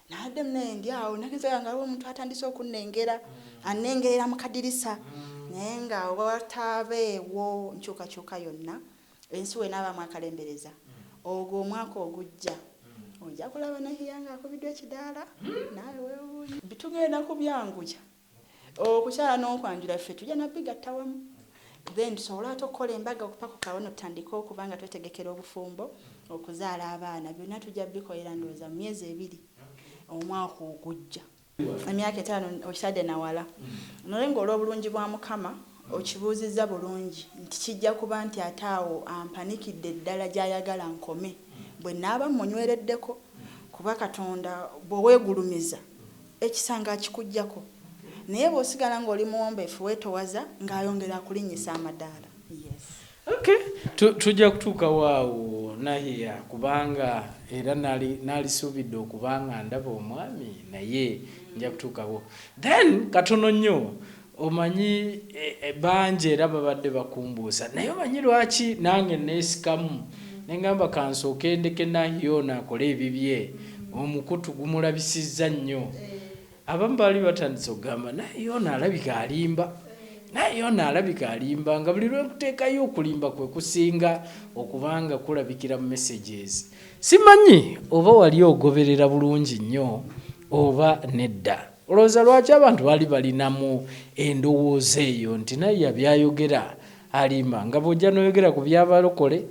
Nabadde munaye ndi awo nagenzaga nga aliwo omuntu atandise okunnengera mm. annengerera mu kadirisa mm. naye nga wataabeewo nkyukakyuka yonna ensi wenaabaamu akalembereza mm. ogwo omwaka ogujja mm. ojja kulaba nahiya nga akubiddwa ekidaala mm. naawe wewuunya bitugenda kubyanguya Okukyala n'okwanjula ffe tujja nabigatta wamu then tusobole ate okukola embaga okupakuka wano tutandike okuba nga twetegekera obufumbo, okuzaala abaana byonna tujja bikolera ndowooza mu myezi ebiri omwaka ogujja. Emyaka etaano okitadde na wala naye ng'olw'obulungi bwa Mukama okibuuzizza bulungi nti kijja kuba nti ate awo ampanikidde ddala gy'ayagala nkome bwe naaba mmunywereddeko kuba Katonda bw'oweegulumiza Ekisanga akikuggyako naye bw'osigala ng'oli muwombeefu weetowaza ng'ayongera akulinnyisa amadaala. Okay tu, tujja kutuukawo awo Nahiya kubanga era nali nalisuubidde okuba nga ndaba omwami naye nja kutuukawo. Then katono nnyo Omanyi bangi era babadde bakumbuusa naye omanyi lwaki nange neesikamu ne ngamba ka nsooke ndeke Nahhi ono akole ebibye, omukutu gumulabisizza nnyo. Abamu baali batandise okugamba Nahhi ono alabika alimba, Nahhi ono alabika alimba nga buli lwe nkuteekayo okulimba kwe kusinga okuba nga kulabikira mu messages. Simanyi oba wali ogoberera bulungi nnyo oba nedda. Olowooza lwaki abantu baali balinamu endowooza eyo nti Naya byayogera alimba? Nga bwojja noyogera ku byabalokole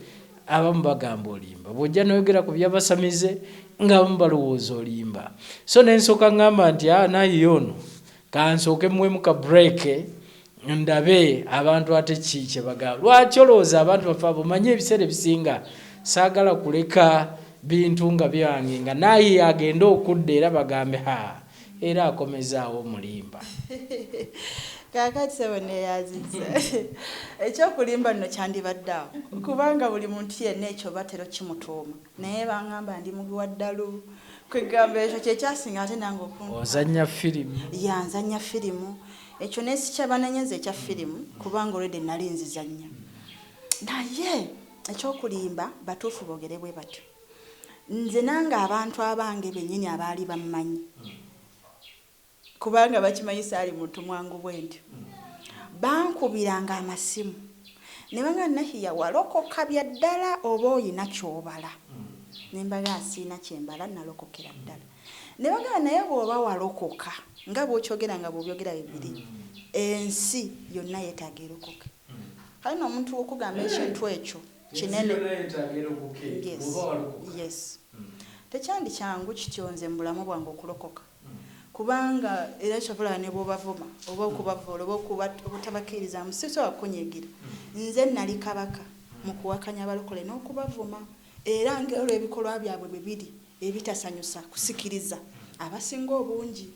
abamu bagamba olimba, bwojja noyogera ku byabasamize nga abamu balowooza olimba. So nensoka ngamba nti ah Naya ono kansooke muwemu ka break ndabe abantu ate ki kyebagala lwaki olowooza abantu bafe abo manyi ebiseera ebisinga saagala kuleka bintu nga byange nga naaye agende okudda era bagambe ha era akomezaawo omulimba kakati sebo neyaziza ekyokulimba nno kyandibadde awo kubanga buli muntu yenna ekyo batera okimutuuma naye bangamba ndi mubi wa ddalu kwegamba ekyo kyekyasinga ate nange okunzanya firimu yanzanya firimu Ekyo nesikyabanenya nze ekya film kubanga already nali nzizanya naye ekyokulimba batuufu bogere bwebatyo nze nange abantu abange benyini abaali bammanyi kubanga bakimanyi saali muntu mwangu bwentyo bankubiranga amasimu nebanga nahiya walokoka byaddala oba oyina kyobala nembaga asiina kyembala nalokokera ddala Nebagamba naye bwoba walokoka nga bwokyogera nga bwobyogera bibiri ensi yonna yetaaga erokoke kale no omuntu okugamba ekintu ekyo kinene yes yes tekyandi kyangu kityo nze mubulamu bwange okulokoka kubanga era kyova olaba nebwobavuma oba okubavoola oba obutabakiirizaamu sisobola kukunyiigira nze nali kabaka mukuwakanya abalokole nokubavuma era nga olwebikolwa byabwe bwebiri. Ebitasanyusa kusikiriza abasinga obungi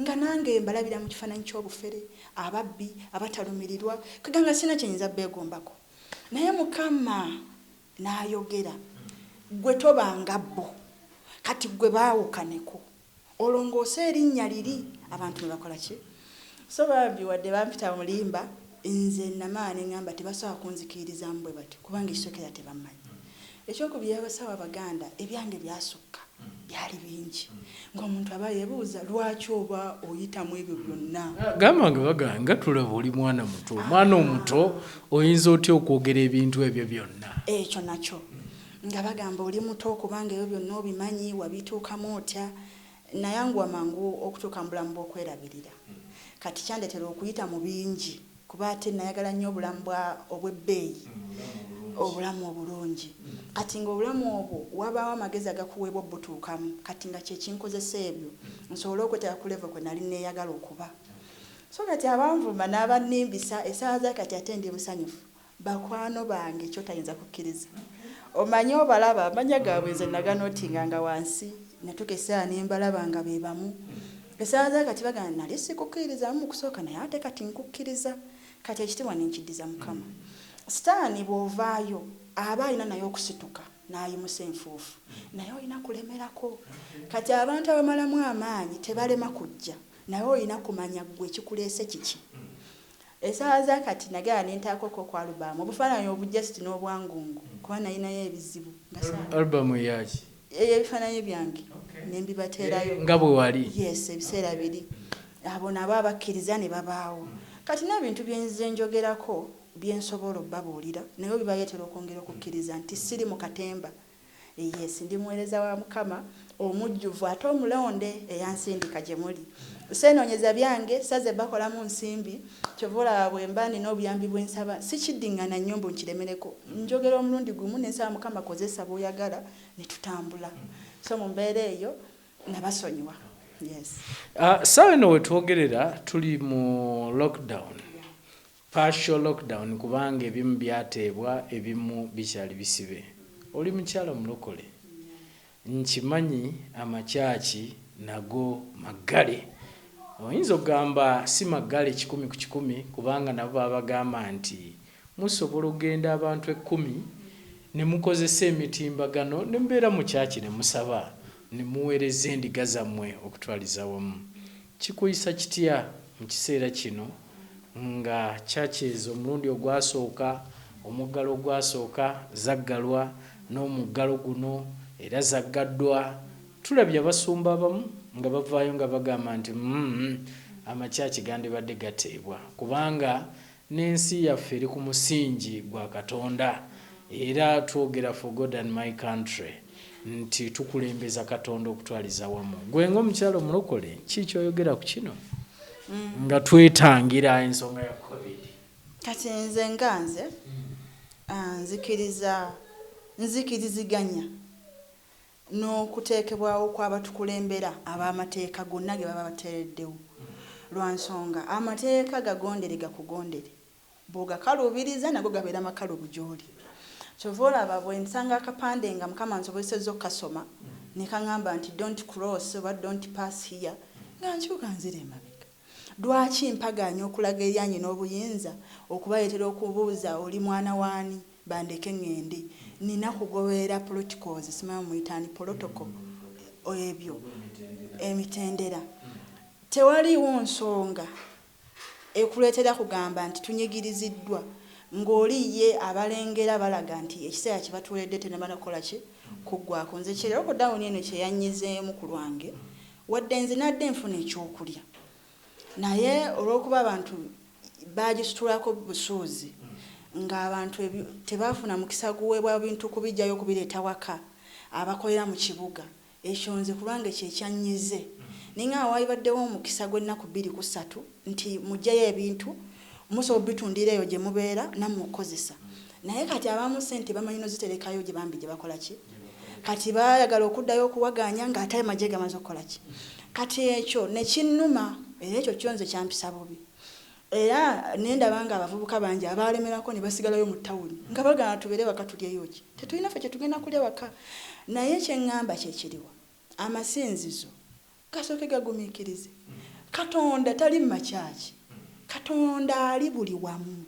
nga nange mbalabira mu kifaananyi ky'obufere, ababbi, abatalumirirwa, kega nga sirina kye nyinza beegombako. Naye Mukama n'ayogera, Ggwe toba nga bo. Kati ggwe baawukaneko, olongoose erinnya liri. Abantu ne bakola ki? So bambi wadde bampita mulimba nze namala nengamba tebasobola kunzikiririzamu bwebatyo kubanga ekisokera tebamanyi ekyokubiri abasawo abaganda ebyange byasukka byali bingi ngomuntu aba yebuuza lwaki oba oyita mwebyo byonna. Gamba nga bagamba nga tulaba oli mwana muto omwana omuto oyinza otya okwogera ebintu ebyo byonna. Ekyo nakyo nga bagamba oli muto kubanga ebyo byonna obimanyi wabituukamu otya Nayanguwa mangu okutuuka mu bulamu bw'okwerabirira. Kati kyandetera okuyita mu bingi kuba ate nayagala nnyo obulamu bwa obw'ebbeeyi, obulamu obulungi. Kati nga obulamu obwo wabaawo amagezi agakuweebwa obbutuukamu, kati nga kye kinkozesa ebyo nsobole okweteeka ku level kwe nali neyagala okuba. So kati abanvuma n'abannimbisa, essaawa za kati ate ndi musanyufu Bakwano bange kyotayinza kukiriza omanyi obalaba amanya gabwe nze naganotinga nga wansi natuka esawa nembalaba nga bebamu esawa zakati bagana nali sikukirizamu mukusoka naye ate kati nkukiriza kati ekitibwa nenkidiza mukama sitani bwovayo aba alina naye okusituka nayimusa enfufu naye olina kulemerako kati abantu abamalamu amaanyi tebalema kujja naye olina kumanya gwe ekikulese kiki Esaawa za kati nagenda nentaako ko ku album obufaananyi obu just n'obwangungu kuba nalinayo ebizibu nga saa. Album eyaki? Ey'ebifaananyi byange ne mbibateerayo. Nga bwe wali? Yes ebiseera biri abo nabo abakkiriza ne babaawo. Kati n'ebintu bye nze njogerako bye nsobola obabuulira nabyo bibaleetera okwongera okukkiriza nti siri mu katemba. Yes, ndi muweereza wa Mukama omujjuvu ate omulonde eyansindika gye muli. Seenoonyeza byange, saze bakolamu nsimbi. Kyova olaba bwe mba nina obuyambi bwe nsaba, sikiddingana nnyo mbu nkiremereko. Njogera omulundi gumu ne nsaba Mukama kozesa b'oyagala ne tutambula. So mu mbeera eyo nabasonyiwa. Yes. Ssaawa eno we twogerera tuli mu lockdown. Partial lockdown kubanga ebimu byateebwa ebimu bikyali bisibe. Oli mukyala mulokole? Nkimanyi amakyaki nago maggale. Oyinza ogamba si maggale kikumi ku kikumi kubanga nabo babagamba nti musobola ogenda abantu ekkumi ne mukozesa emitimbagano ne mubeera mu kyaki ne musaba ne muweereza endiga zammwe okutwaliza awamu. Kikuyisa kitya mu kiseera kino? nga churches omulundi ogwasooka omuggalo ogwasooka zaggalwa n'omuggalo guno era zaggaddwa tulabye abasumba abamu nga bavaayo nga bagamba nti umm ama church gandibadde gateebwa kubanga n'ensi yaffe eri ku musingi gwa Katonda era twogera for God and my country. nti tukulembeza katonda okutwaliza wamu gwe nga omukyalo omulokole kii kyoyogera ku kino mm. nga twetangira ensonga ya covid kati nze nga nze mm. ah, nzikiriza nzikiriziganya n'okuteekebwawo kw'abatukulembera ab'amateeka gonna ge baba bateereddewo lwa nsonga amateeka gagondere gakugondere bw'ogakalubiriza nago gabeera makalubu gy'oli. Ky'ova olaba bwe nsanga akapande nga Mukama ansobozesezza okukasoma ne kang'amba nti don't cross oba don't pass here nga nkyuka nzira emabega. Lwaki mpagaanya okulaga eri anyina obuyinza okubaleetera okubuuza oli mwana w'ani, bandeke ng'ende. Nnina kugoberera poloticals, simanyi muyita ani, polotoko, ebyo, emitendera. Tewaliiwo nsonga. ekuleetera kugamba nti tunyigiriziddwa ng'oli ye abalengera balaga nti ekiseera kye batuweeredde tennamala kukola ki? Kuggwaako. Nze kye lokodawuni eno kye yannyizeemu ku lwange, wadde nze nadde nfuna ekyokulya naye olw'okuba abantu baagisitulako busuuzi ng'abantu tebaafuna mukisa guweebwa bintu kubiggyayo kubireeta waka abakolera mu kibuga Ekyo nze ku lwange kye kyannyize. Ninga nga waalibaddewo omukisa gw'ennaku bbiri ku ssatu nti muggyeyo ebintu, musobola okubitundira eyo gye mubeera nammwe okukozesa. Naye kati abamu ssente bamanyi n'oziterekayo gye bambi gye bakola ki? Kati baayagala okuddayo okuwagaanya ng'ate amagye gamaze okukola ki? Kati ekyo ne kinnuma era ekyo kyo nze kyampisa bubi. Era ne ndaba nga abavubuka bangi abaalemerako ne basigalayo mu tawuni nga bagaana tubeere waka tulyeyo ki? Tetulina ffe kye tugenda kulya waka. Naye kye ŋŋamba kye kiriwa? Amasinzizo gasooke gagumiikirize. Katonda tali mu makyaki. Katonda ali buli wamu.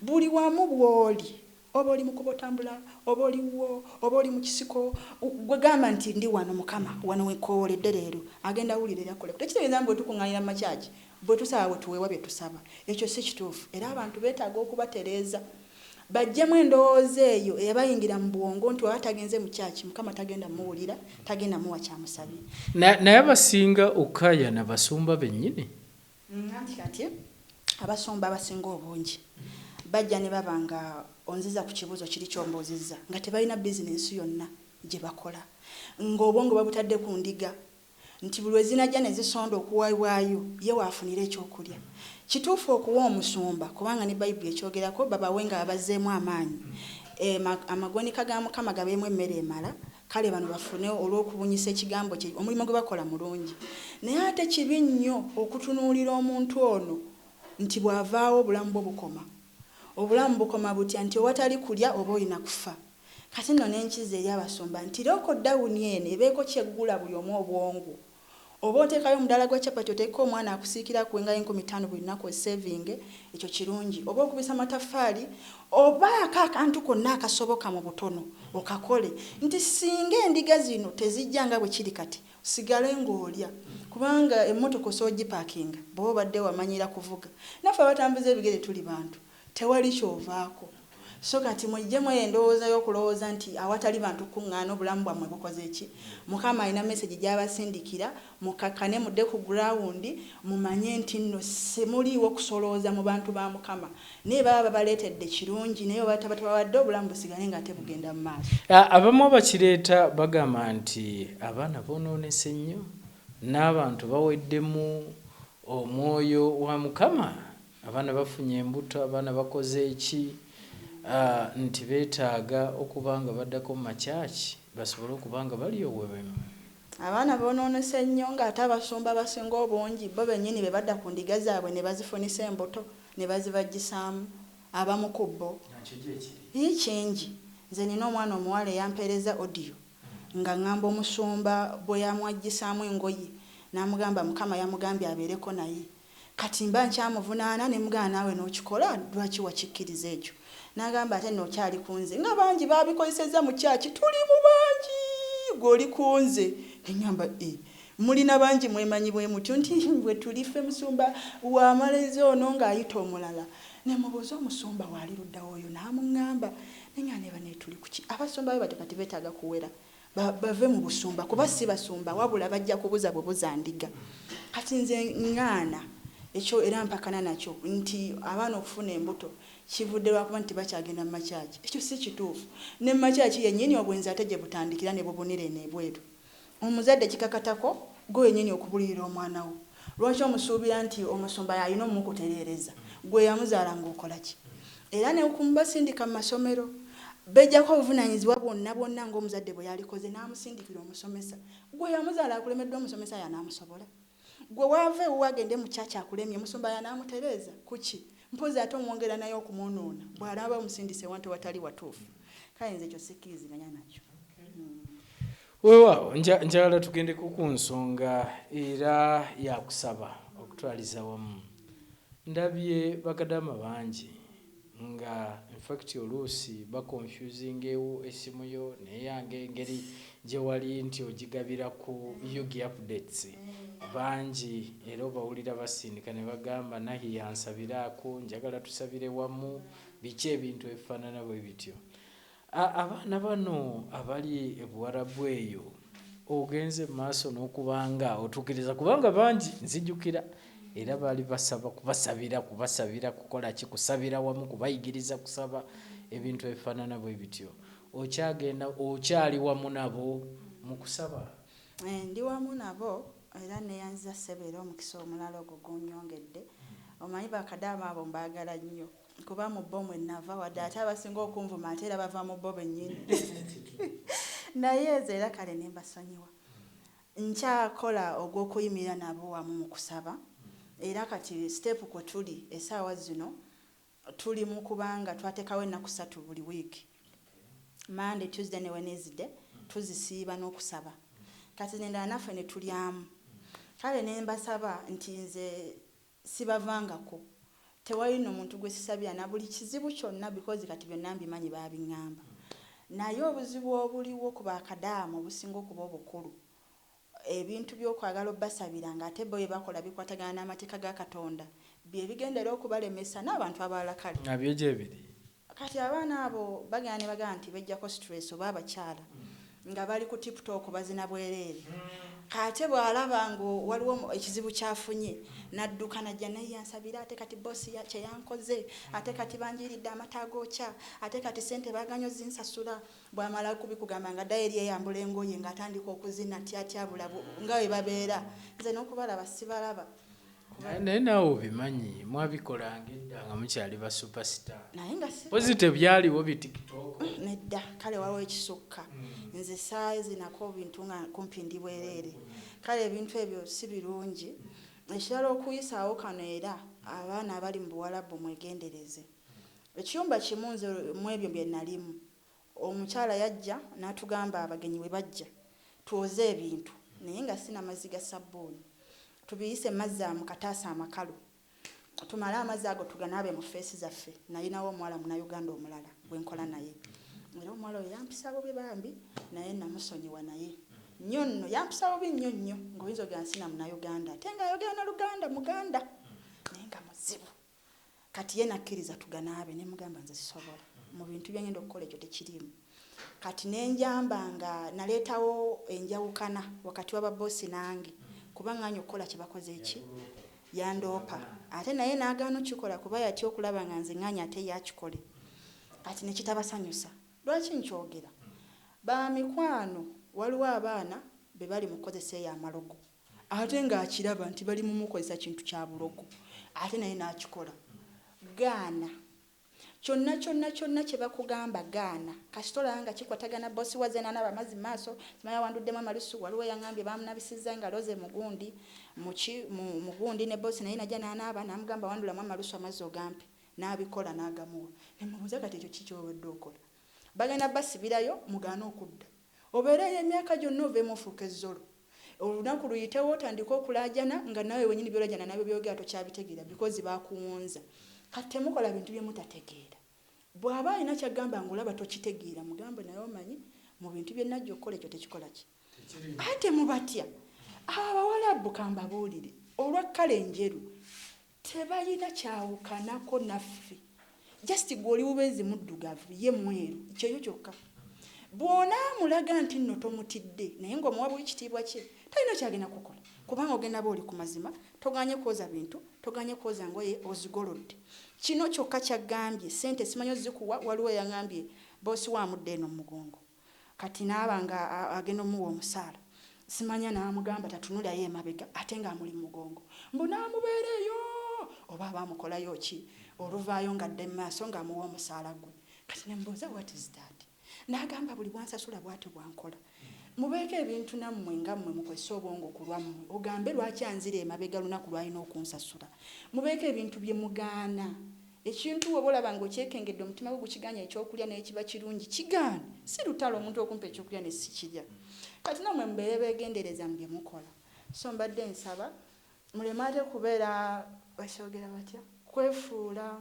Buli wamu bw'oli, oba oli mu kkubo otambula, oba oli wuwo, oba oli mu kisiko, ggwe gamba nti, Ndi wano, Mukama. Wano we nkoowoledde leero. Agenda wulira era akoleko. Tekitegeeza nti bwe tukuŋŋaanira mu makyaki, bwe tusaba, bwe tuweebwa bye tusaba. Ekyo si kituufu. Era abantu beetaaga okubatereeza, baggyemu endowooza eyo eyabayingira mu bwongo nti bw'aba tagenze mu kyaki, Mukama tagenda mmuwulira, tagenda mmuwa ky'amusabye. Naye, naye abasinga okukaayana basumba bennyini. Anti kati abasumba abasinga obungi bajja ne baba nga onziza ku kibuuzo kiri ky'ombuuzizza nga tebalina bizinensi yonna gye bakola, nga obwongo babutadde ku ndiga nti buli lwe zinajja ne zisonda okuwebwayo ye w'afunira eky'okulya. Kituufu okuwa omusumba, kubanga ne Bayibuli ekyogerako, babawe nga abazzeemu amaanyi, e, amagonika ga Mukama gabeemu emmere emala. Kale bano bafune olw'okubunyisa ekigambo kye, omulimu gwe bakola mulungi. Naye ate kibi nnyo okutunuulira omuntu ono nti bw'avaawo obulamu bwo bukoma. Obulamu bukoma butya nti owatali kulya oba olina kufa? Kati nno n'enkizo eri abasumba nti lokodawuni eno ebeeko ky'eggula buli omu obwongo. Oba oteekayo omudaala gwa chapati oteekeko omwana akusiikire akuwe nga y'enkumi ttaano buli lunaku osevinge, ekyo kirungi. Oba okubisa mataffaali obaako akantu konna akasoboka mu butono okakole nti singa endiga zino tezijja nga bwe kiri kati osigale ng'olya kubanga emmotoka osobola ogipakinga bw'oba obadde wamanyiira kuvuga. Naffe abatambuza ebigere tuli bantu Tewali ky'ovaako. So kati mujjemu eyo endowooza y'okulowooza nti awatali bantu kukuŋŋaana, obulamu bwammwe bukoze ki? Mukama alina mesegi gy'abasindikira, mukkakkane, mudde ku guraawundi, mumanye nti nno si muliiwo kusolooza mu bantu ba Mukama. Naye baba babaleetedde, kirungi, naye bwe baba tabatabawadde, obulamu busigale ng'ate bugenda mu maaso. Abamu abakireeta bagamba nti abaana boonoonese nnyo, n'abantu baweddemu omwoyo wa Mukama Abaana bafunye embuto, abaana bakoze ki? nti betaaga okuba nga baddako mu ma church basobole okuba nga bali oweremu. Abaana bononese nnyo nga ate abasumba abasinga obungi bbo benyini bebadda ku ndiga zaabwe nebazifunisa embuto nebazibajjisaamu abamu ku bbo. Nakyo gyekiri. Yii kingi. Nze nina omwana omuwala eyampeereza audio nga ngamba omusumba bweyamwajjisaamu engoye namugamba mukama yamugambye abeereko naye. Kati mba nkyamuvunaana ne mugamba naawe n'okikola lwaki wakikkiriza ekyo? N'agamba ate nno okyali ku nze nga bangi baabikozesezza mu kyaki tuli mu bangi ggwe oli ku nze ne ngamba eeh mulina bangi mwemanyi bwe mutyo nti bwe tuli ffe musumba w'amarezo ono ng'ayita omulala ne mubuuza omusumba waali ludda wa oyo n'amungamba ne ngamba ne bano etuli ku ki abasumba bwe batyo kati beetaaga kuwera Ba, bave mu busumba, kuba si basumba, wabula bajja kubuza bubuza ndiga. Kati nze nngaana ekyo era mpakana nakyo nti abaana okufuna embuto kivudde lwakuba nti tebakyagenda mu makyaki. Ekyo si kituufu. Ne mu makyaki yennyini obwenzi ate gye butandikira ne bubunira eno ebweru. Omuzadde kikakatako ggwe wennyini okubulirira omwana wo. Lwaki omusuubira nti omusumba y'alina omumukutereereza? Ggwe eyamuzaala ng'okola ki? era ne ku basindika mu masomero beggyako obuvunaanyizibwa bwonna bwonna ng'omuzadde bwe yalikoze n'amusindikira omusomesa. Ggwe eyamuzaala akulemeddwa omusomesa y'anaamusobola? Ggwe w'ava ewuwo agende mu church akulemye omusumba y'anaamutereeza? Ku ki? Mpozzi ate omwongera naye okumwonoona bw'anaaba amusindise ewantu ewatali watuufu. Kale nze ekyo sikkiriziganya nakyo. Weewaawo njagala tugendeko ku nsonga era yakusaba okutwaliza wamu. Ndabye bakadaama bangi nga infact oluusi bakonfuzingewo essimu yo neyange engeri gye wali nti ogigabira ku Yugi updates bangi era obawulira basindika ne bagamba Nahi yansabiraako, njagala tusabire wamu, biki ebintu ebifaanana bwe bityo. Abaana bano abali e Buwarabu eyo ogenze mu maaso n'okuba nga otukiriza kubanga bangi nzijukira era baali basaba kubasabira kubasabira kukola ki kusabira wamu kubayigiriza kusaba ebintu ebifaanana bwe bityo okyagenda okyali wamu nabo mu kusaba eh, ndi wamu nabo era neyanziza ssebo era omukisa omulala ogwo gunyongedde omanyi bakadaama abo mbaagala nnyo kuba mu bo mwe nava wadde ate abasinga okunvuma ate era bava mu bo bennyini naye ezo era kale ne mbasonyiwa nkyakola ogw'okuyimirira nabo wamu mu kusaba era kati siteepu kwe tuli essaawa zino tuli mu kubanga twateekawo ennaku ssatu buli wiiki monday tuesday ne wednesday tuzisiiba n'okusaba kati nendala naffe ne tulyamu kale ne mbasaba nti nze Sibavangako tewali no muntu gwesisabira nabuli kizibu kyonna because kati byonna mbimanyi babingamba naye obuzibu obuliwo ku ba kadaama obusinga okuba obukulu ebintu byokwagala obasabira nga ate bo byebakola bikwatagana namateeka ga katonda byebigendera okubalemesa nabantu abalala kale nga byo gyebiri. Kati abaana abo bagenda nebagamba nti bejjako stress oba abakyala nga bali ku tiptop bazina bwereere ate bwalaba nga waliwo ekizibu kyafunye nadduka najja naye yansabira ate kati boss kyeyankoze ate kati banjiiridde amata agokya ate kati sente baganye ozinsasula bwamala kubikugamba nga dayeri yeyambula engoye nga atandika okuzina tyatyabula nga webabeera nze nokubalaba sibalaba naye naawe obimanyi mwabikolanga edda nga mukyali ba superstar naye nga pozi tebyaliwo bitiktok mm, nedda kale waliwo ekisukka mm. nze saayo zinako bintu nga kumpi ndi bwereere kale ebintu ebyo si birungi ekirala okuyisaawo kano era abaana abali mu buwalabu mwegendereze ekiyumba kimu nze mwebyo bye nalimu Omukyala yajja n'atugamba abagenyi bwe bajja twoze ebintu naye nga si na mazzi ga ssabbuuni, tubiyise mu mazzi mu kataasa amakalu tumale amazzi ago tuganaabe mu ffeesi zaffe. Nalinawo omuwala Munnayuganda omulala gwe nkola naye era omuwala oyo yampisa bubi bambi naye nnamusonyiwa naye nnyo nno yampisa bubi nnyo nnyo ng'oyinza okugamba si na Munnayuganda ate ng'ayogera na Luganda Muganda naye nga muzibu. Kati ye nakkiriza tuganaabe ne mugamba nze sisobola mu bintu bye ngenda okukola ekyo tekiriimu. Kati ne njamba nga naleetawo enjawukana wakati wa ba boss nange kuba nganye okukola kye bakoze ki yandoopa ate naye nagaana okukikola kuba yatya okulaba nga nze nganye ate ye akikole kati ne kitabasanyusa. Lwaki nkyogera? Ba mikwano waliwo abaana be bali mu kukozesa eyo amalogo. Ate nga akiraba nti bali mumukozesa kintu kya bulogo ate naye nakikola. Gaana. Kyonna kyonna kyonna kyebakugamba gaana. Kasita olaba nga kikwatagana boss waze nanaba amazi mumaaso. Simanyi awanduddemu amalusu. Waliwo eyangambye bamunabisizza engalo ze mugundi muki mu mugundi ne boss naye naja nanaaba namugamba wandulamu amalusu amazzi ogampe. Nabikola nagamuwa. Nemubuuza kati ekyo ki kyewabadde okola. Bagenda basibirayo mugaane okudda. Obeereyo emyaka gyonna ovemu ofuuke zolo. Olunaku luyitewo otandike okulaajana nga naawe wenyini byolajana nabyo byoyogera tokyabitegeera because bakuwonza. Kati temukola bintu byemutategeera. Bwaba alina kyagamba nga olaba tokitegeera mugambe naye omanyi mu bintu byenajja okukola ekyo tekikola ki? Ate mubatya abo abawalabu kambabuulire olwa kkala enjeru. Tebalina kyawukanako naffe. Just gwe oli bubenzi muddugavu ye mweru kyeyo kyokka. Bw'onaamulaga nti nno tomutidde naye ng'omuwa bwekitiibwa kye talina kyagenda kukola kubanga ogenda ba oli ku mazima toganye kwoza bintu, toganye kwoza ngoye ozigolodde. Kino kyokka ky'aggambye. Ssente simanyi ozikuwa waliwo eyang'ambye boss we amudda eno mu mugongo. Kati naaba nga agenda omuwa omusaala simanya namugamba tatunulayo emabega ate nga amuli mumugongo mbu namubeera eyo oba aba amukolayo ki oluvaayo nga adda emumaaso nga amuwa omusaala gwe kati nemubuuza what is that nagamba buli bwansasula bwatyo bwankola mubeeko ebintu nammwe nga mmwe mukozese obwongo kulwammwe ogambe lwaki anzira emabega lunaku lwalina okunsasula mubeeko ebintu byemugaana Ekintu bw'oba olaba ng'okyekengedde, omutima gwo gukigaanyi eky'okulya naye kiba kirungi, kigaane. Si lutalo omuntu okumpa eky'okulya ne sikirya. Kati nammwe mubeere beegendereza mu bye mukola. So mbadde nsaba muleme ate kubeera, bakyogera batya, kwefuula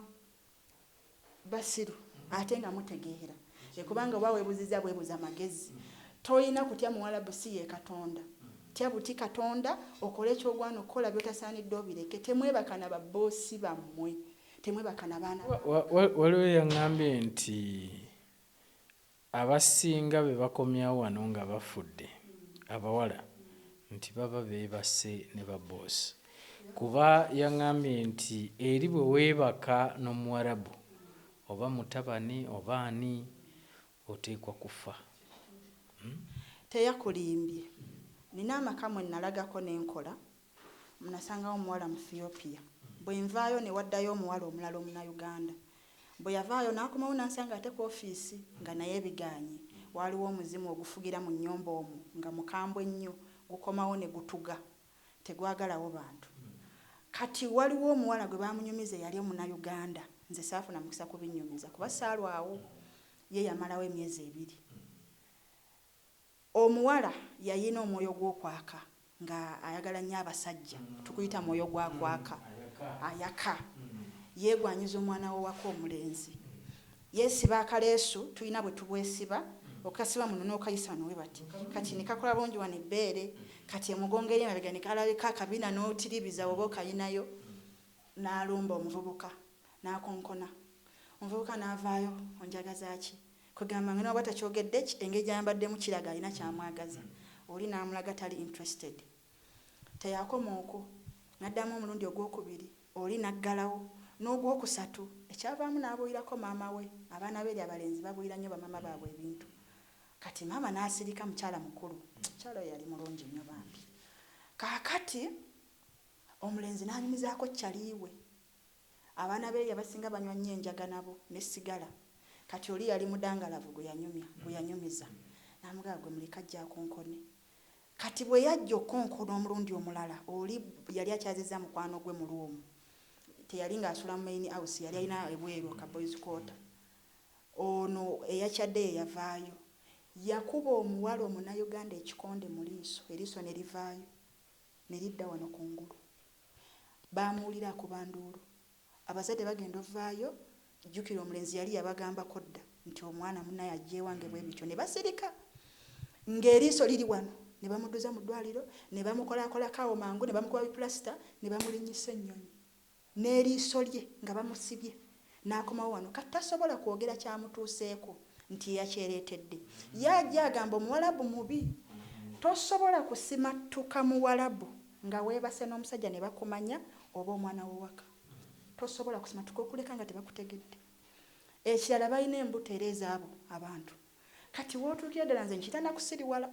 basiru ate nga mutegeera. e kubanga oba webuziza bwebuza magezi toyina kutya muwalabu si yekatonda tya buti katonda okole kyogwana okukola byotasanidde obireke temwebaka na ba bosi bamwe temwebaka na baana waliwo yangambye nti abasinga bebakomyawo wano nga bafudde abawala nti baba bebase ne ba bosi kuba yangambye nti eri bwewebaka nomuwarabu Oba mutabani oba ani oteekwa kufa. Uhmm. Teyakulimbye. Nina amaka mwe nalagako ne nkola, nasangawo omuwala Muthiopia. Bwe nvaayo ne waddayo omuwala omulala Omunnayuganda. Bwe yavaayo n'akomawo n'ansanga ate ku ofiisi nga naye bigaanye. Waaliwo omuzimu ogufugira mu nnyumba omwo nga mukambwe nnyo, gukomawo ne gutuga. tegwagalawo bantu kati waliwo omuwala gwe baamunyumiza eyali omunayuganda nze saafuna mukisa kubinnyumiza kuba saalwawo ye yamalawo emyezi ebiri omuwala yayina omwoyo gw'okwaka nga ayagala nnyo abasajja tukuyita mwoyo gwa kwaka ayaka yeegwanyiza omwana w'owaka omulenzi Yeesiba akaleesu tulina bwe tubwesiba, okasiba muno n'okayisa wano bwe bati. Kati ne kakola bulungi wano ebbeere, kati emugongo eri emabega ne kalabika akabina n'otiribiza bw'oba okayinayo. N'alumba omuvubuka, n'akonkona. Omuvubuka n'avaayo, Onjagaza ki? Kwegamba nga ne bw'aba takyogedde, ki, engeri gy'ayambaddemu kiraga alina ky'amwagaza. Oli n'amulaga tali interested. Teyakoma okwo, n'addamu omulundi ogw'okubiri, oli n'aggalawo, n'ogw'okusatu, ekyavaamu n'abuulirako maama we. Abaana b'eri abalenzi babuulira nnyo bamaama baabwe ebintu. Kati maama n'asirika, mukyala mukulu. Omukyala oyo yali mulungi nnyo bambi. Kaakati, omulenzi n'anyumizaako ccali we. Abaana b'eri abasinga banywa nnyo enjaga nabo, ne sigala. Kati oli yali mudangalavu gwe yanyumya, gwe yanyumiza. N'amugamba, Ggwe muleke ajje akonkone. Kati bwe yajja okukonkona omulundi omulala, oli yali akyazizza mukwano gwe mu room. Teyali nga asula mu main house, yali alina ebweru ka boys quarter. Ono eyakyaddeyo yavaayo. Yakuba omuwala omunayuganda ekikonde mu liiso, eriiso ne livaayo, ne lidda wano ku ngulu. Baamuwulira akuba nduulu. Abazadde bagenda ovaayo jukira omulenzi yali yabagambako dda nti omwana munaye ajja ewange bwebityo nebasirika nga eriiso liri wano nebamuduza mu dwaliro nebamukolakolako awo mangu nebamukuba bi pulasita nebamulinyisa ennyonyi neriiso lye nga bamusibye nakomawo wano kati tasobola kwogera kyamutuuseeko nti yeyakyeretedde ye ajja agamba omuwalabu mubi tosobola kusimattuka muwalabu. Nga webase nomusajja nebakumanya oba omwana wowaka tosobola kusimatuka okuleka nga tebakutegedde ekirala balina embuto era ezabo abantu kati wotuukira ddala nze nkita nakusiriwala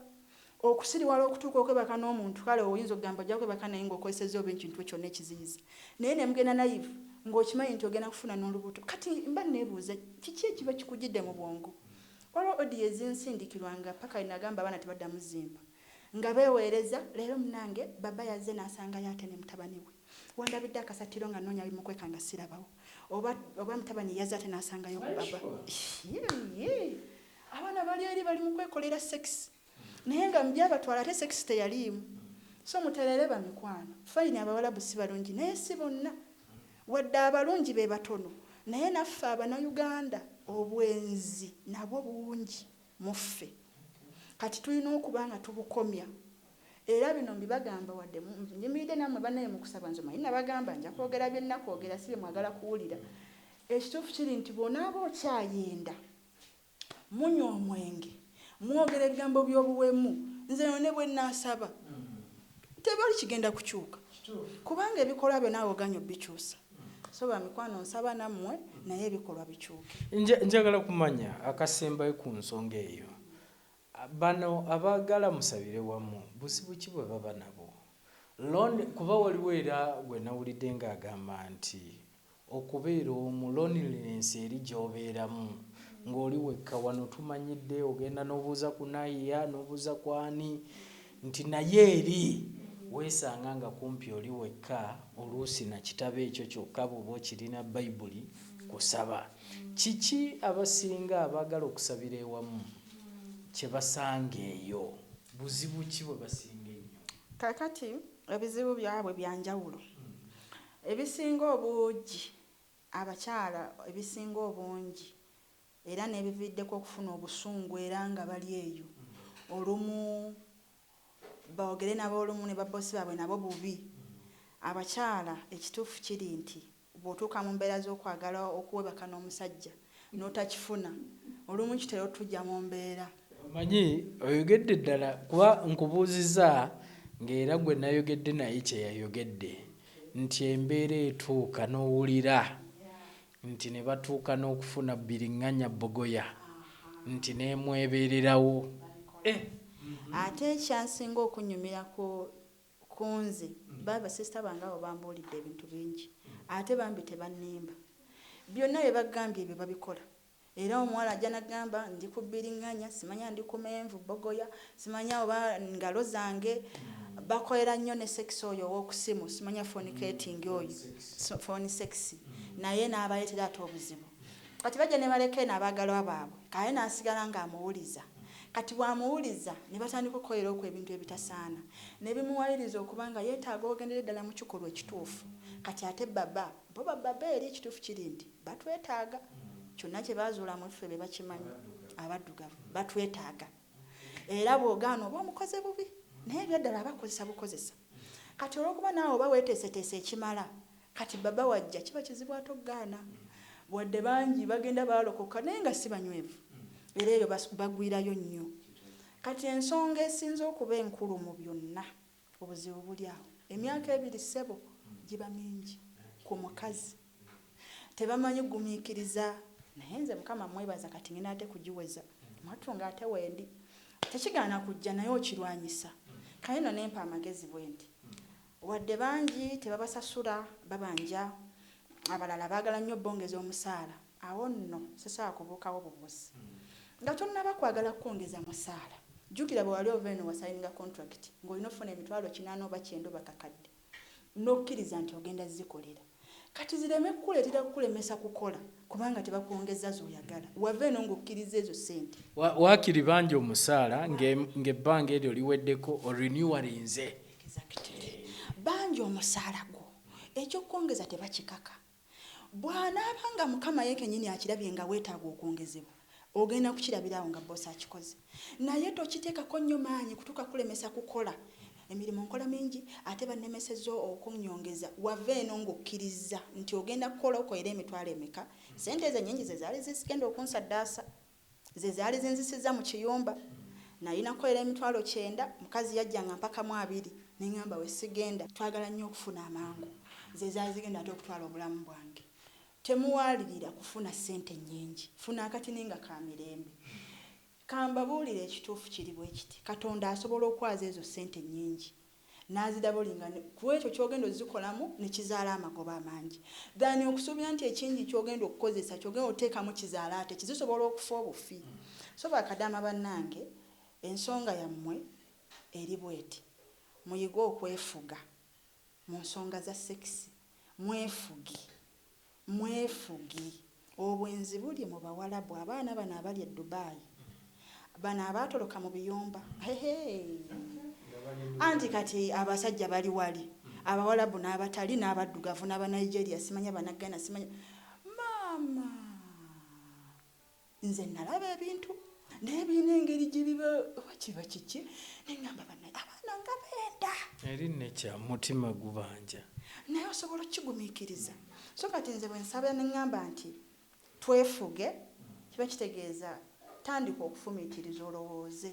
okusiriwala okutuuka okwebaka nomuntu kale owo oyinza okugamba ojja kwebaka naye nga okozeseza oba ekintu kyona ekiziyiza naye nemugenda nayivu nga okimanyi nti ogenda kufuna nolubuto kati mba nebuuza kiki ekiba kikujidde mubwongo waliwo audio ezinsindikirwa nga paka wenagamba abaana tebadamu zimpa Nga beweereza leero munange baba yazze nasangayo ate ne mutabani we. Wandabidde akasattiro nga nnoonya abimukweka nga sirabawo. Oba oba mutabani yazze ate nasangayo ku baba. Yii abaana bali eri bali mukwekolera sex naye nga mubyabatwala ate sex teyaliimu. So mutereere bamikwano. Fine abawalabu sibalungi naye si bonna. Wadde abalungi be batono naye naffe abana Uganda obwenzi nabwo bungi. mu ffe. Kati tulina okuba nga tubukomya. Era bino mbibagamba wadde nnyimiridde nammwe bannange mu kusaba, nze omanyi nabagamba nja kwogera bye nnakwogera si bye mwagala kuwulira. Ekituufu kiri nti bw'onaaba okyayenda, munywa omwenge, mwogera ebigambo by'obuwemu, nze eno ne bwe nnaasaba tewali kigenda kukyuka kubanga ebikolwa byo naawe ogaanyi obikyusa. So bamikwano nsaba namwe naye ebikolwa bikyuke. Njagala kumanya akasembayo ku nsonga eyo. Bano abaagala musabire wamu buzibu ki bwe baba nabwo? Lon, kuba waliwo era gwe nawulidde ng'agamba nti okubeera omu, loneliness eri gy'obeeramu ng'oli wekka. Wano tumanyidde ogenda n'obuuza ku Naiya n'obuuza ku ani Nti naye eri weesanga nga kumpi oli wekka oluusi na kitabo ekyo kyokka bw'oba okirina, Baibuli, kusaba. Kiki abasinga abaagala okusabira ewamu kye basanga eyo? Buzibu ki bwe basinga ennyo? Kaakati, ebizibu byabwe bya njawulo. Ebisinga obuugi, abakyala ebisinga obungi era n'ebiviiriddeko okufuna obusungu era nga bali eyo olumu boogere nabo olumu ne babboosi baabwe nabo bubi. Abakyala ekituufu kiri nti bw'otuuka mu mbeera z'okwagala okuwebaka n'omusajja n'otakifuna olumu kitera otuggya mu mbeera. Omanyi oyogedde ddala kuba nkubuuzizza ng'era gwe nayogedde naye kye yayogedde nti embeera etuuka n'owulira nti ne batuuka n'okufuna Biringanya Bogoya nti n'emwebeererawo eh. Ate ekyansinga okunnyumira ku ku nze ba basisita bange abo bambuulidde ebintu bingi ate bambi tebannimba. Byonna bye bagambye ebyo babikola Era omuwala ajja nagamba ndi ku biringanya simanya ndi ku menvu bogoya simanya oba ngalo zange bakolera nyo ne sex oyo owokusimu simanya phone ketingi oyo phone sex naye nabaletera ate obuzibu kati bajja nebaleka eno abagalwa babwe kaye nasigala nga amuwuliza kati bwamuwuliza nebatandika okukolera okwo ebintu ebitasaana nebimuwayiriza okuba nga yetaaga ogendere ddala mukikolwa ekituufu kati ate baba Bo ba Baberi ekituufu kiri nti batwetaaga. Kyonna kye baazuula mu ffe be bakimanyi, Abaddugavu. Batwetaaga. Era bw'ogaana oba omukoze bubi. Naye ebyaddala abakukozesa bukozesa. Kati olw'okuba naawe oba weeteeseteese ekimala, kati Baba w'ajja kiba kizibu ate okugaana. Wadde bangi bagenda baalokoka, naye nga si banywevu. Era eyo bagwirayo nnyo. Kati ensonga esinze okuba enkulu mu byonna. Obuzibu buli awo. Emyaka ebiri ssebo giba mingi ku mukazi. Tebamanyi gumikiriza. Naye nze mukama mwebaza kati ngenda ate kugiweza mwattu nga ate wendi. Tekigaana kujja naye okirwanyisa. Kale nno nempa amagezi bwenti. Wadde bangi tebabasasula babanja abalala bagala nnyo bongeza omusaala. Awo nno sisobola kubuukawo bubuuzi. Nga tonnaba kwagala kwongeza musaala, jjukira bwe wali ova eno wasayininga kontulakiti ng'olina okufuna emitwalo kinaana oba kyenda oba kakadde n'okkiriza nti ogenda zikolera. Kati zireme kukuleetera kukulemesa kukola kubanga tebakwongezza z'oyagala. Wava eno ng'okkirizza ezo ssente. Waakiri banja omusaala ng'ebbanga eryo liweddeko orinewalinze. Exactly. Banja omusaala gwo. Eky'okwongeza tebakikaka. Bw'anaaba nga Mukama ye kennyini akirabye nga weetaaga okwongezebwa, ogenda kukirabira awo nga bboosi akikoze. Naye tokiteekako nnyo maanyi kutuuka kukulemesa kukola. Emirimu nkola mingi ate bannemesezza okunnyongeza. Wava eno ng'okkirizza nti ogenda kukola okoere emitwalo emeka? Ssente ezo ennyingi ze zaali zigenda okunsaddaasa. Ze zaali zinzisizza mu kiyumba. Nnalinako era emitwalo kyenda. Mukazi yajjanga mpakamu abiri ne ŋŋamba we sigenda. Twagala nnyo okufuna amangu. Ze zaali zigenda ate okutwala obulamu bwange. Temuwaalirira kufuna ssente nnyingi. Funa akatini nga ka mirembe. Ka mbabuulire ekituufu kiri bwe kiti, Katonda asobola okwaza ezo ssente ennyingi n'azidabolinga ne ku ekyo ky'ogenda ozikolamu ne kizaala amagoba amangi than okusuubira nti ekingi ky'ogenda okukozesa ky'ogenda oteekamu kizaale ate ki zisobola okufa obufi so bakadaama bannange ensonga yammwe eri bweti muyige okwefuga mu nsonga za sekisi mwefuge. Mwefugi. Obwenzi buli mu bawalabu abaana bano abali e Dubai bano abaatoloka mu biyumba hehee anti kati abasajja bali wali abawalabu n'abatali n'abaddugavu n'aba Nigeria simanya bana Ghana simanya maama nze nalaba ebintu naye birina engeri gyebiba oba kiba kiki neŋamba banaye abaana nga benda eri nekya mutima gubanja naye osobola okukigumikiriza so kati nze bwensaba neŋamba nti twefuge kiba kitegeeza tandika okufumitiriza olowooze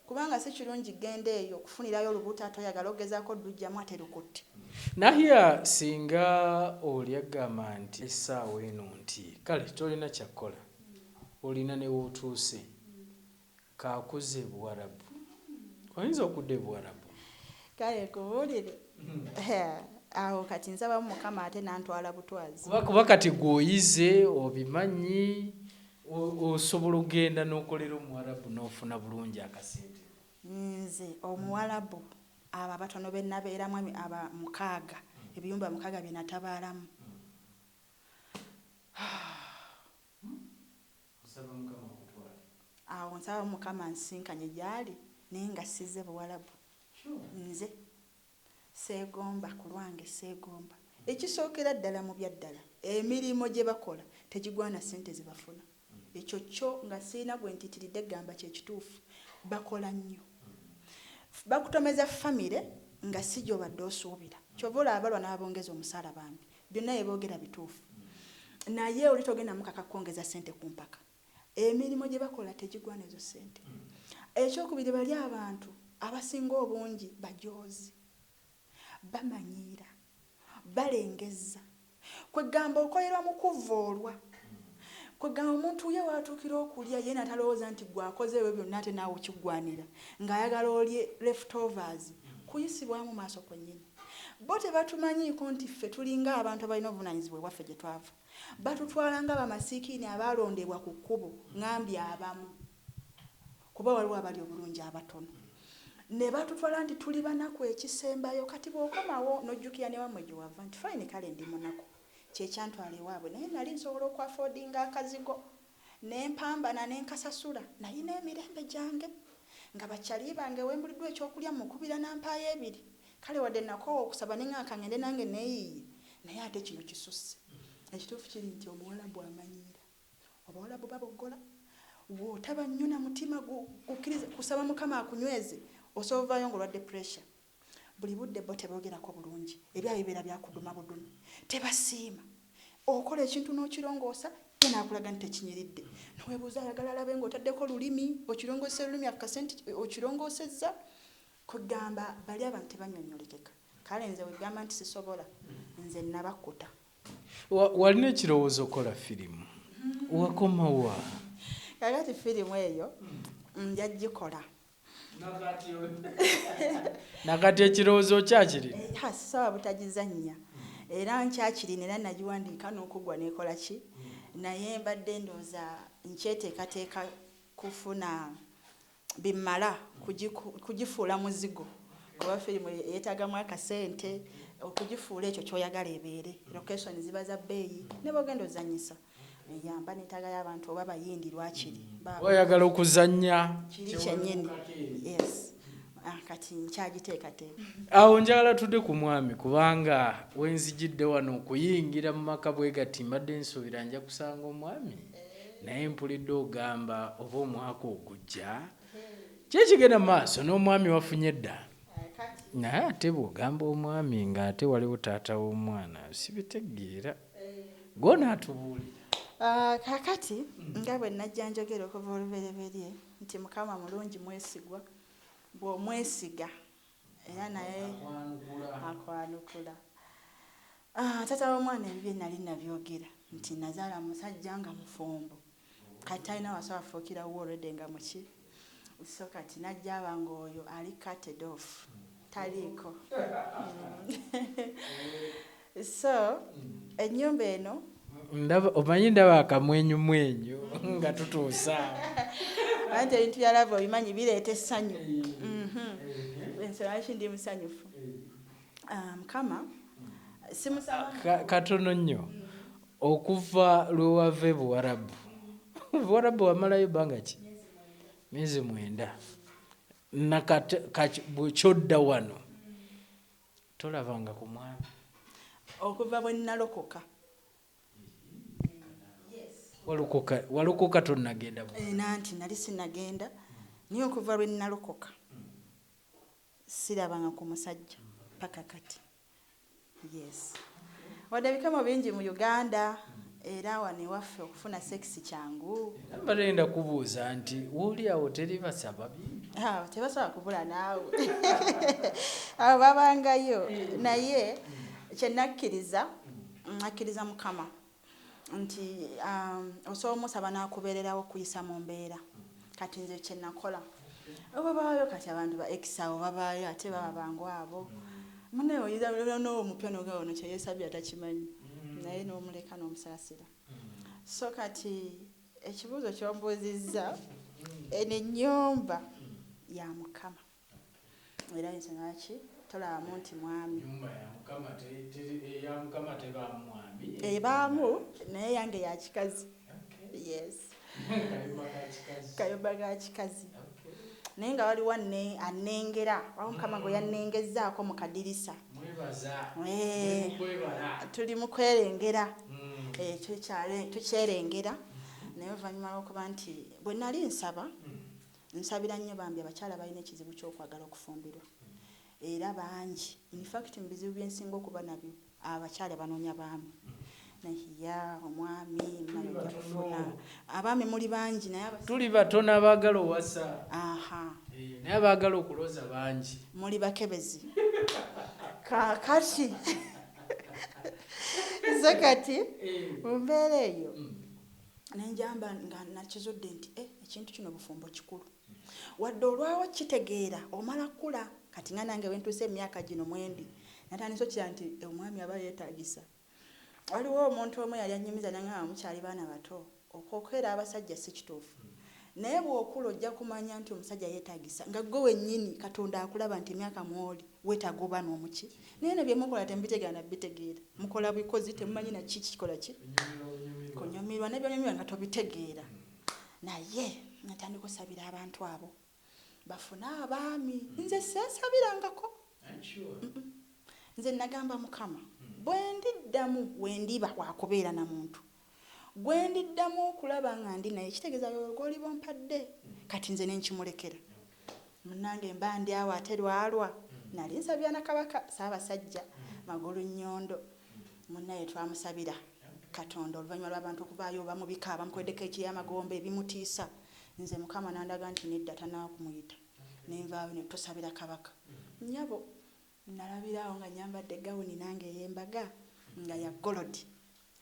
Kubanga si kirungi genda eyo kufunirayo lubuto ate oyagala ogezako dujjamu ate lukutte. Nahia singa oli agamba nti esaawa eno nti kale tolina kyakukola olina newotuuse kakuze ebuwarabu oyinza okuda ebuwarabu. Kale nkubulire awo kati nsabamu mukama ate nantwala butwazi. Kuba kati gwe oyize obimanyi. Osobola ogenda nokolera omuwarabu nofuna bulungi akasente. Nze omuwalabu abo abatono benabeeramu aba mukaaga ebiyumba mukaaga byenatabaalamu awo nsaba mukama ansisinkanye gyaali naye nga sizze buwalabu nze. Sseegomba, Ku lwange sseegomba. Ekisookera ddala mu bya ddala emirimu gye bakola tegigwana ssente ze bafuna. Ekyo kyo nga sirina gwe ntiitiridde kugamba kye kituufu. Bakola nnyo. Bakutomeza ffamire nga si gy'obadde osuubira. Ky'ova olaba balwa n'ababongeza omusaala bambi. Byonna bye boogera bituufu. Naye oli togenda mukaka kukwongeza ssente ku mpaka. emirimu gye bakola tegigwana ezo ssente. Ekyokubiri bali abantu abasinga obungi bajoozi, bamanyiira, balengezza. Kweggamba okolerwa mu kuvvoolwa. Kweggamba omuntu ye w'atuukira okulya ye natalowooza nti ggwe akoze ebyo byonna ate naawe kiggwanira ng'ayagala olye left overs. Kuyisibwamu maaso kwennyini. Bo tebatumanyiiko nti ffe tulinga abantu abalina obuvunaanyizibwa ewaffe gye twava. Batutwala nga bamasiikiini abaalondebwa ku kkubo, ngambye abamu, kuba waliwo abali obulungi abatono, ne batutwala nti tuli banaku ekisembayo. Kati bw'okomawo n'ojjukira ne wammwe gye wava nti fine kale ndi munaku, kye kyantwala ewaabwe naye nnali nsobola okwafodinga akazigo. Ne mpambana ne nkasasula, nalina emirembe gyange, nga ba chali bange wembuliddwa ekyokulya mmukubira nampaayo ebiri, kale wadde nakoowa okusaba ne ngamba kangende nange neyiiye naye ate kino kisusse. Ekituufu kiri nti omuwalabu amanyiira. Obawalabu baboggola, wotaba nnyo na mutima gu gukkiriza kusaba mukama akunyweze, osobola ovaayo nga olwadde pressure. Buli budde bo tebogerako bulungi ebyaabwe bibeera byakuduma budumi tebasiima okola ekintu nokilongoosa ye nakulaga nti tekinyiridde newebuuza ayagala alabe nga otaddeko lulimi okilongoseza olulimi akukase nti okilongoosezza kwegamba bali abantu tebanyonyolekeka kale nze wegamba nti sisobola nze nabakkuta. Walina ekirowoozo okola firimu wakomawa? Kakati firimu eyo nja gikola. nakati ekirowoozo okyakirina eh, sawa butagizannya era nkyakirina era nagiwandiika n'okuggwa nekola ki naye mbadde ndooza nkyeteekateeka kufuna bimala kugifuula muzigo kuba firimu yeetagamu akasente okugifuula ekyo kyoyagala ebeere location ziba za bbeeyi ne bogenda ozanyisa yamba netaga yabantu oba bayindi lwakiri oyagala okuzanya kiri kyenyini yes ah, kati nkyagiteekateeka awo njagala tudde ku mwami kubanga wenzijidde wano okuyingira mu maka bwe gati mbadde nsuubira nja kusanga omwami naye mpulidde ogamba oba omwaka ogujja kyekigenda maaso n'omwami wafunye dda naye ate bwogamba omwami ng'ate waliwo taata w'omwana sibitegeera gonaatubuulira Ah, kakati nga bwe najja njogera okuva olubereberye nti mukama mulungi mwesigwa bw'omwesiga era naye akwanukula ah, taata w'omwana ebibye nali nabyogera nti nazaala musajja nga mufumbo kati talina waso afuukira wuwe already nga muki so kati najja aba nga oyo ali cutted off taliiko mm. so ennyumba eno omanyi ndaba akamwenyumwenyu nga tutuusa anti ebintu byalava obimanyi bireeta essanyu mhm. ensonga lwaki ndi musanyufu ah, mukama simusaba katono nnyo mm. Okuva lwewava e Buwarabu. Buwarabu wamalayo banga ki? Myezi mwenda. Nakati bwekyodda wano tolabanga ku mwami. Okuva bwenalokoka. Walokoka walokoka tonagenda Buwarabu? Eh, nanti nali sinagenda naye okuva lwenalokoka sirabanga ku musajja paka kati. Yes. Wadde ebikemo bingi mu Uganda era wano ewaffe okufuna sex kyangu. Era mbadde ngenda kubuuza nti woli awo teri basaba bingi? Awo tebasobola kubula naawe. Awo babangayo naye kye nakkiriza nakkiriza Mukama. nti osobola omusaba n'akubeererawo okuyisa mu mbeera kati nze kye nakola obabaayo kati abantu ba ekisa abo babaayo ate baba bangu abo munaye oyizanoowo omupya nogaa ono kyeyesabye atakimanyi naye n'omuleka n'omusaasira so kati ekibuuzo kyombuuzizza eno ennyumba ya mukama Era nze naki tolabamu nti mwami. Enyumba ya mukama teri eya mukama tebaamu mwami ebaamu naye eyange ya kikazi yes kayumba ka kikazi naye nga waliwo anengera waliwo mukama gwe yanengezzaako mu kadirisa eh, tuli mu kwerengera hmm. eh, tukyerengera naye oluvannyuma lwokuba nti bwe nali nsaba hmm. Nsabira nnyo bambi abakyala abalina ekizibu ky'okwagala okufumbirwa era bangi in fact mu bizibu bye nsinga okuba nabyo abakyala banoonya baami naye yaa omwami muna yojja kufuna abaami muli bangi naye abas- tuli batono abaagala owasa aha Eh, naye abaagala okuloza bangi muli bakebezi kaakati nze kati Eh, mu mbeera eyo mm. Ne njamba nga nakizudde nti, Eh, ekintu kino bufumbo kikulu. Wadde olwawo okukitegeera omala kukula. Kati nga nange we ntuuse mu myaka gino mwe ndi, natandise okukira nti omwami aba yeetaagisa. Waliwo omuntu omu eyali annyumiza n'aŋŋamba, Mukyali baana bato, okwokera abasajja si kituufu. Naye bwokula ojja kumanya nti omusajja yetagisa nga gwe wenyini katonda akulaba nti emyaka mwoli wetaga oba nomuki naye eno byemukola temubitegera na bitegeera mukola bikozi temumanyi na ki kikola ki kunyumirwa ne byonyumirwa nga tobitegeera naye natandika osabira abantu abo bafune abaami nze sesabirangako nze nagamba mukama bwendi ddamu wendiba wakubeera na muntu Gwe ndiddamu okulaba nga ndi naye kitegeeza yoyo gw'oliba ompadde kati nze ne nkimulekera. Munnange mba ndi awo ate lwalwa nali nsabira na Kabaka Ssaabasajja Magulunnyondo munnaye twamusabira Katonda oluvannyuma lw'abantu okuvaayo oba mu bika abamukoleddeko eky'amagombe ebimutiisa nze Mukama n'andaga nti nedda tanaakumuyita ne nvaayo ne tusabira Kabaka. Nnyabo. Nnalabira awo nga nnyambadde gawuni nange ey'embaga nga ya golodi,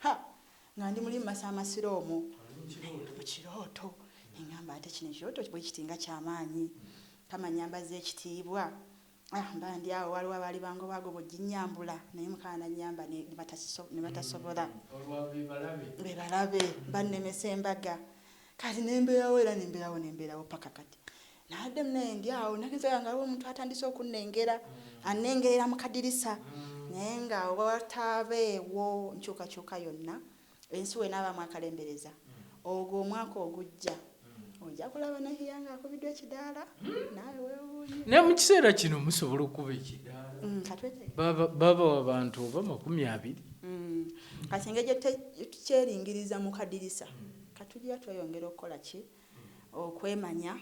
ha, nga ndi muli mu masaamaasiro omwo. Naye ndi mu kirooto. Ne ŋŋamba, Ate kino ekirooto bwe kiti nga kya maanyi! Mukama annyambazza ekitiibwa. Ah, mba ndi awo, waaliwo abaali bangoba agoba oginnyambula, naye Mukama n'annyamba ne, ne batakiso, ne batasobola. Olwa, be balabe. Be balabe. Bannemesa embaga. Kati ne mbeerawo era ne mbeerawo ne mbeerawo paka kati. nabadde munaye ndi awo nagenzaga nga aliwo omuntu atandise okunnengera mm. annengerera mu kadirisa mm. naye nga wataabeewo nkyukakyuka yonna ensi wenaabaamu akalembereza mm. ogwo omwaka ogujja ojja kulaba nahiya nga akubiddwa ekidaala naawe wewuunye naye mu kiseera kino musobola okuba ekidaala baba wabantu oba makumi abiri kati engeri gyetukyeringiriza mu kadirisa katugira tweyongera okukola ki okwemanya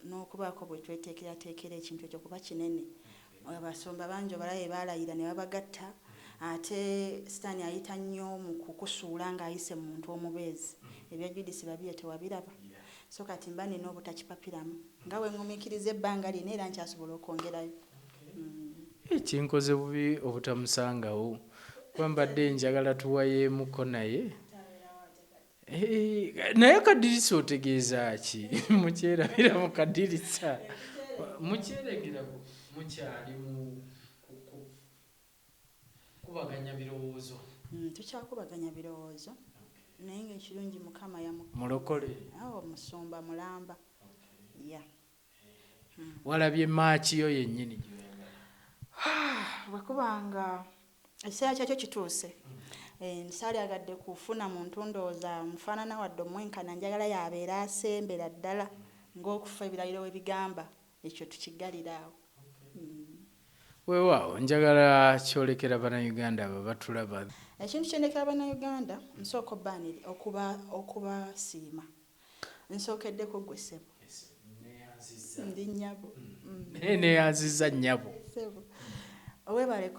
n'okubaako bwe tweteekerateekera ekintu ekyo kuba kinene. Abasumba bangi obalabe baalayira ne babagatta ate sitaani ayita nnyo mu kukusuula ng'ayise mu muntu omubeezi. Ebya Judith Babirye tewabiraba? So kati mba nnina obutakipapiramu nga bwe ŋŋumiikiriza ebbanga lino era nkyasobola okwongerayo. Kinkoze bubi obutamusangawo kuba mbadde njagala tuwayeemuko naye. Eh, naye kadirisa otegeeza ki mukyerabira mu kadirisa mukyeregera mukyali mu kubaganya birowoozo mm, tukyakubaganya birowoozo naye ngaekirungi mukama yamulokole awo oh, musumba mulamba ya walabye maaki yo yennyini bwekuba nga ekiseera kyakyo kituuse eh, saalyagadde kufuna muntu ndowooza mufaanana wadde omwenkana njagala yabeera asembera ddala ng'okufa ebirayiro we bigamba ekyo tukiggalira awo mm. weewaawo njagala kyolekera bannayuganda abo batulaba ekintu kyendekera bannayuganda nsooka okubaaniri okubasiima Nsookeddeko ggwe ssebo. Ndi nnyabo. Naye neeyanzizza nnyabo. Ssebo, weebale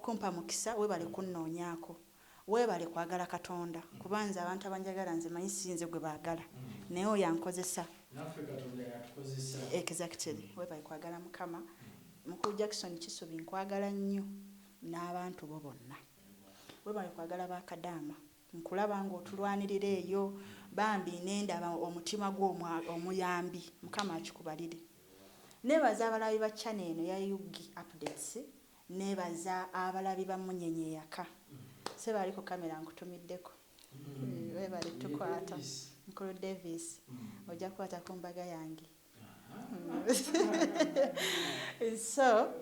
kumpa mukisa, weebale kunnoonyaako, weebale kwagala Katonda kuba nze abantu abanjagala nze manyi si nze gwe baagala naye oyo ankozesa. Naffe Katonda y'atukozesa. Exactly. Weebale kwagala Mukama. Mukulu Jackson Kisubi nkwagala nnyo n'abantu bo bonna. Weebale kwagala ba kadaama. Nkulaba nga otulwanirira eyo bambi nendaba omutima gwo omuyambi mukama akikubalire nebaza abalabi ba channel eno ya ug updates nebaza abalabi ba munyenye eyaka sebo ali ku camera nkutumiddeko webale tukwata mukulu Davis oja kukwata kumbaga yange so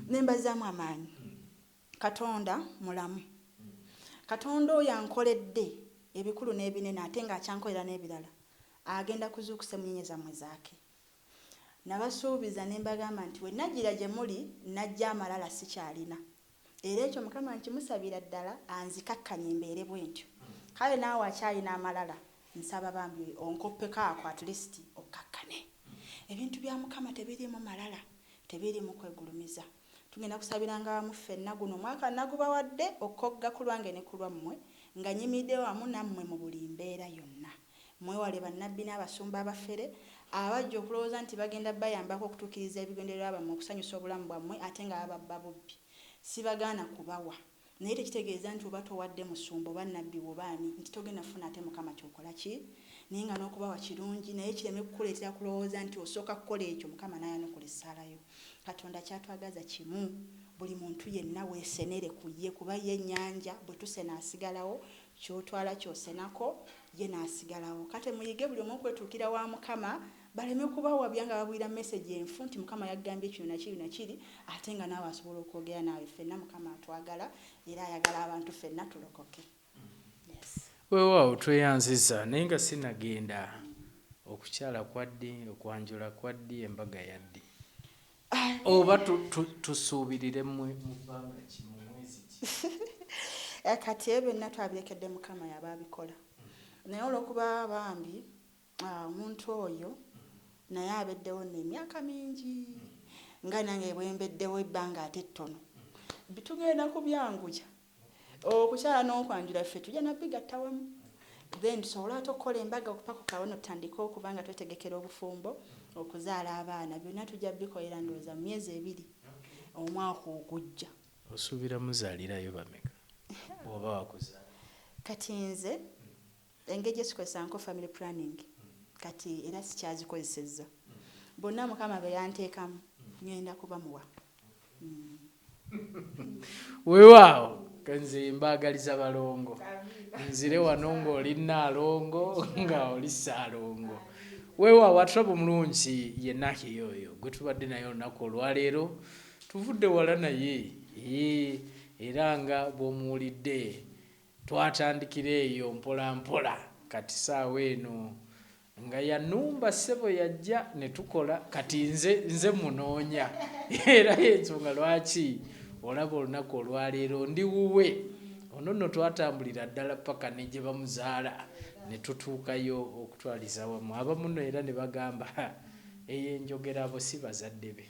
nembazamu amaanyi. Katonda mulamu. Katonda oyo ankoledde ebikulu n'ebinene ate nga akyankolera n'ebirala agenda kuzuukusa emmunyeenye zammwe zaake. Nabasuubiza ne mbagamba nti bwe najjira gye muli najja amalala sikyalina. Era ekyo Mukama nkimusabira ddala anzikakkanye mbeere bwentyo. Kale naawe akyalina amalala nsaba bambi onkoppeko ako at least okkakkane. Ebintu bya Mukama tebiriimu malala, tebiriimu kwegulumiza. Tugenda kusabiranga wamu ffenna, guno omwaka nnagubawadde okogga ku lwange ne ku lwammwe, nga nyimiridde wamu nammwe mu buli mbeera yonna. Mwewale bannabbi n'abasumba abafere, abajja okulowooza nti bagenda bayambako okutuukiriza ebigendererwa byammwe, okusanyusa obulamu bwammwe, ate nga baba babba bubbi. Sibagaana kubawa. Naye tekitegeeza nti oba towadde musumba oba nabbi wo oba ani nti togenda kufuna ate mukama kyokola ki naye nga nokubawa kirungi naye kireme kukuleetera kulowooza nti osooka kukola ekyo mukama nayanukula essaala yo katonda kyatwagaza kimu buli muntu yenna wesenere ku ye kuba ye nyanja bwetusena asigalawo kyotwala kyosenako ye nasigalawo kate muyige buli omu okwetuukira wa mukama baleme kubawabya nga babulira message enfu nti mukama yaggambye kino nakiri nakiri ate nga naawe asobola okwogera naawe ffenna mukama atwagala era ayagala abantu ffenna tulokoke yes. wewaawo tweyanziza naye nga sinagenda okukyala kwaddi okwanjula kwaddi embaga yaddi oba tusuubirire mwe mubbanga ki mu mwezi ki eh, kati ebyo byonna twabirekedde mukama yaba abikola naye olwokuba bambi Omuntu oyo naye abeddewo nno emyaka mingi nga nange bwembeddewo ebbanga ate ettono. Tugenda kubyanguya okukyala n'okwanjula ffe tujja nabigatta wamu then tusobole ate okukola embaga okupakuka wano tutandike okuba nga twetegekera obufumbo, okuzaala abaana byonna tujja bikolera ndowooza mu myezi ebiri omwaka ogujja. Osuubira muzaalirayo bameka bw'oba wakuzaala? Kati nze. Engeri gyetukozesanko family planning kati era sikyazikozesezza bonna mukama beyanteekamu ngenda kubamuwa Wewaawo nze mbagaliza balongo nzire wano nga oli nnaalongo nga oli ssaalongo wewaawo aturaba omulungi ye Nakiya oyo gwe tubadde naye olunaku olwaleero tuvudde wala naye eeh era nga bw'omuwulidde Twatandikira eyo mpola mpola kati saawa eno nga yanumba ssebo yajja ne tukola kati nze nze munoonya era y'ensonga lwaki olaba olunaku olwaleero ndi wuwe ono nno twatambulira ddala ppaka ne gye bamuzaala ne tutuukayo okutwaliza wamu abamu nno era ne bagamba eyo enjogera abo si bazadde be.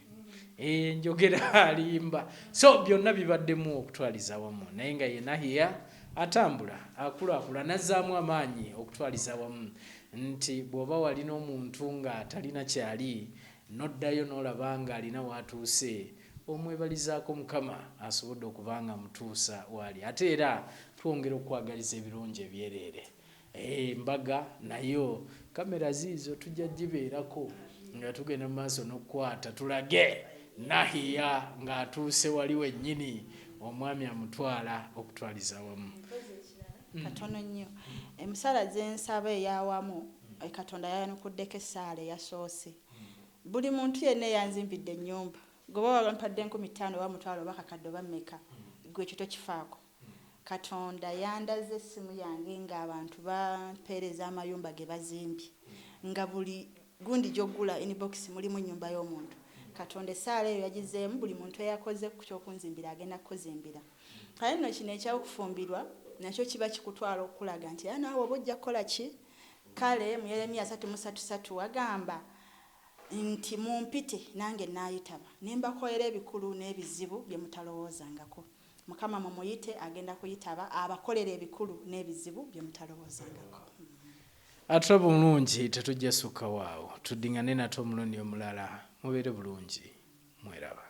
enjogera eh, alimba so byonna bibaddemu okutwaliza wamu naye nga yena hiya atambula akulaakula nazzaamu amaanyi okutwaliza wamu nti bw'oba walina omuntu ng'atalina kyali noddayo n'olaba ng'alina waatuuse omwebalizaako mukama asobodde okuba nga mutuusa waali ate era twongera okukwagaliza ebirungi ebyereere Eeh mbaga nayo camera ziizo tujja jibeerako nga tugenda mumaaso nokukwaata tulage Nahia nga atuuse wali wenyini omwami amutwaala okutwaaliza awamu. Mpozi ekirala katono nnyo emusaala zensaba eyawamu katonda yayanukudeko esaala eyasoose buli muntu yenna eyanzimbidde enyumba gwe oba wampadde enkumi taano oba mutwaalo oba kakadde oba meka gwe ekyo tokifaako. Katonda yandaze essimu yange ng'abantu bampeereza amayumba ge bazimbye nga buli gundi gy'oggula inbox mulimu nnyumba y'omuntu. Katonda essaala eyo yagizzeemu buli muntu eyakoze ku ky'okunzimbira agenda kukuzimbira. Kale nno kino eky'okufumbirwa nakyo kiba kikutwala okukulaga nti era naawe oba ojja kukola ki? Kale mu Yeremiya asatu mu ssatu ssatu wagamba nti, Mumpite nange nnaayitaba, ne mbakolera ebikulu n'ebizibu bye mutalowoozangako. Mukama mumuyite agenda kuyitaba abakolere ebikulu nebizibu byemutalowozangako. Atra bulungi tetujja sukkawo awo tuddingane nate omulundi omulala mubeere bulungi mweraba.